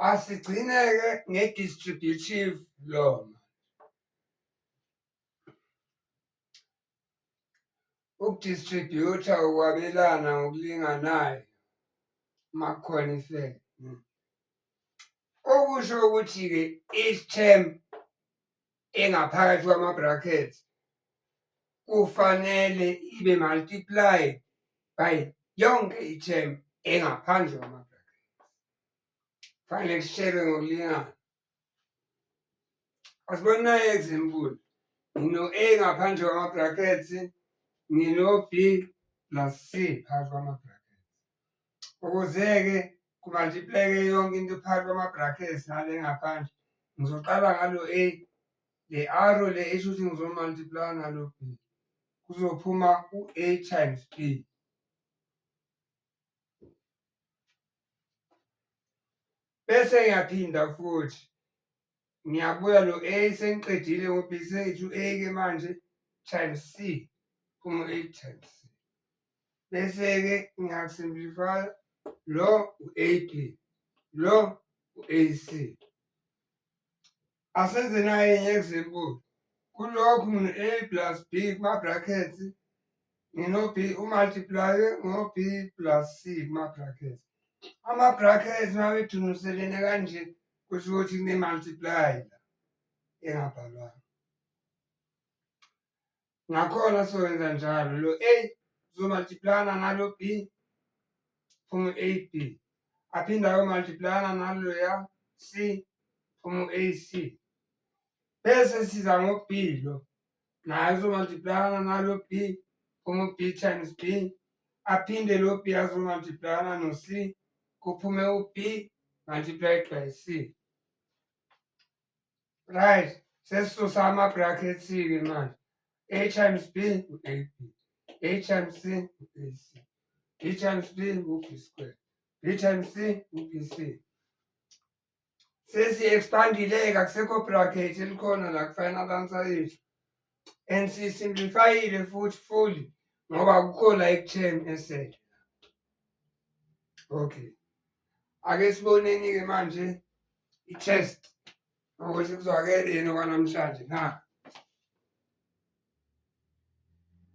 asigcineke nge-distributive lona ukudistributha ukwabelana ngokulinganayo makukhona ifele okusho ukuthi-ke each term engaphakathi kwama-bracket kufanele ibe multiplied by yonke i-term engaphandle kwama-bracket kufanele kushelwe ngokulingana asiboni nayo example ngino-a ngaphandle kwama-brackets ngino-b plus c phakathi kwama-brackets Ukuze-ke kumaltipleke yonke into phakathi kwama-brackets nale ngaphandle, ngizoqala ngalo A, le arrow le isho ukuthi ngizomaltiplaya nalo B. Kuzophuma u-A times B. bese ngiyaphinda futhi ngiyabuya lo A sengiqedile ngo B sethu A ke manje times C phuma A times C bese ke ngiyasimplify lo u-AP lo u-AC asenze nayenye example kulokhu ngine-a plus b kuma-brackets ngino-b umultiply ngo-b plus c kuma-brackets ama-brackets uma bedunuselene kanje kusho ukuthi kune-multiply la engabhalwanga Ngakhona sowenza njalo lo A uzomultiplana nalo B phume AB aphinde ayomultiplana naloya C phume AC bese siza ngo-B lo naye uzomultiplana nalo B phume u-B times B aphinde lo B azomultiplana no-C kuphume u-B multiplied by C right sesisusa ama-brackets-ke manje a times b u-ab a times c u-ac b times b u-b square b times c u-bc sesi-expandile-ke akusekho bracket elikhona la kufanele abansa yethu and siyisimplifayile futhi fully ngoba akukho la ekutheni esele okay ake siboneni-ke manje i-test ukuthi kuzwakele yini okwanamhlanje na